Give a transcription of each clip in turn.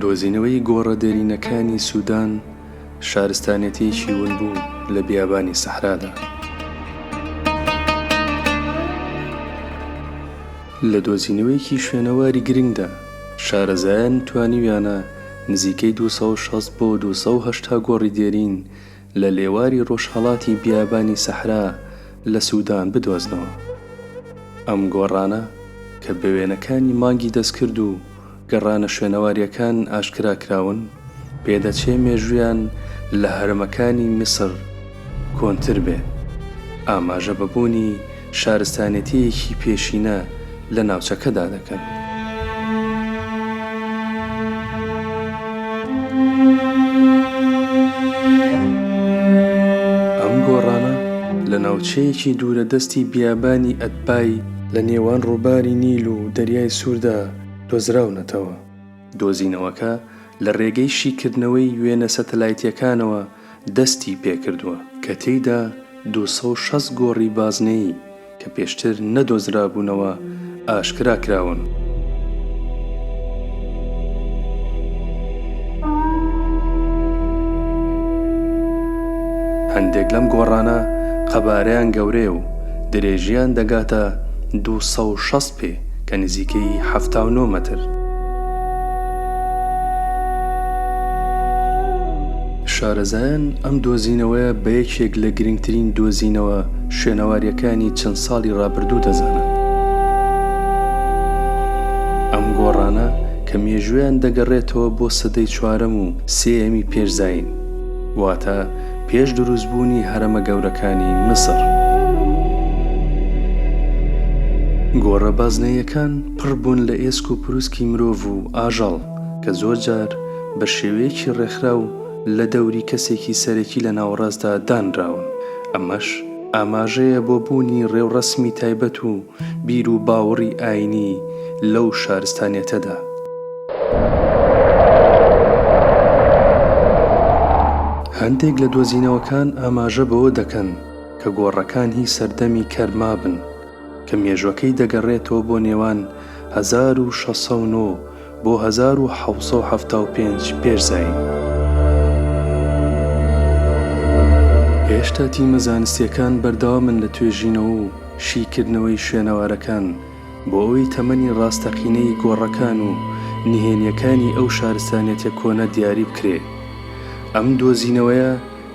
دۆزینەوەی گۆڕە دێرینەکانی سوودان شارستانێتیەکی ون بوو لە بیابانی سەحرادا لە دۆزینەوەیەکی شوێنەواری گرنگدا شارەزایان توانیویانە نزیکەی 260 بۆ 280 گۆڕی دێرین لە لێواری ڕۆژهەڵاتی بیابانی سەحرا لە سودان بدۆزنەوە. ئەم گۆڕانە کە بە وێنەکانی مانگی دەستکرد و گەڕانە شوێنەوارییەکان ئاشکرا کراون، پێدەچێ مێژوویان لە هەرەمەکانی میسر کۆنتر بێ. ئاماژە بە بوونی شارستانێتییەکی پێشینە لە ناوچەکەدا دەکەن. ئەم گۆڕانە لە ناوچەیەکی دوورە دەستی بیابانی ئەدبای، لە نێوان ڕووباری نیل و دەریای سووردا دۆزراونەتەوە. دۆزینەوەکە لە ڕێگەی شیکردنەوەی وێنە سەتەلایتییەکانەوە دەستی پێکردووە، کە تێیدا دوو سەد و شەست گۆڕی بازنەیی کە پێشتر نەدۆزرابوونەوە ئاشکرا کراون. هەندێک لەم گۆڕانە قەبارەیان گەورەیە و درێژییان دەگاتە دوو سەد و شەست پێ. کە نزیکەی حەفتا و نۆ مەتر شارەزایان ئەم دۆزینەوەیە بە یەکێک لە گرنگترین دۆزینەوە شوێنەوارییەکانی چەند ساڵی ڕابردوو دەزانن ئەم گۆڕانە کە مێژوویان دەگەڕێتەوە بۆ سەدەی چوارەم و سێیەمی پێش زایین واتە پێش دروستبوونی هەرەمە گەورەکانی میسر. گۆڕە بازنەییەکان پڕ بوون لە ئێسک و پروسکی مرۆڤ و ئاژەڵ کە زۆرجار بە شێوەیەکی ڕێکخراو لە دەوری کەسێکی سەرەکی لە ناوەڕاستدا دانراون، ئەمەش ئاماژەیە بۆ بوونی ڕێوڕەسمی تایبەت و بیر و باوڕی ئاینی لەو شارستانیەتەدا. هەندێک لە دۆزینەوەکان ئاماژە بەوە دەکەن کە گۆڕەکان هی سەردەمی کەر مابن کە مێژوەکەی دەگەڕێتەوە بۆ نێوان هەزار و شەش سەد و نۆ بۆ هەزار و حەوت سەد و حەفتا و پێنج پێش زایین. هێشتا تیمە زانستییەکان بەردەوامن لە توێژینەوە و شیکردنەوەی شوێنەوارەکان بۆ ئەوەی تەمەنی ڕاستەقینەی گۆڕەکان و نهێنییەکانی ئەو شارستانیەتە کۆنە دیاری بکرێ. ئەم دۆزینەوەیە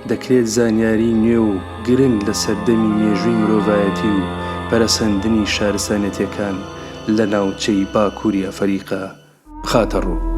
دەکرێت زانیاری نوێ و گرنگ لە سەردەمی مێژووی مرۆڤایەتی و پەرەسەندنی شارستانێتیەکان لە ناوچەی باکووری ئەفەریقا بخاتە ڕوو.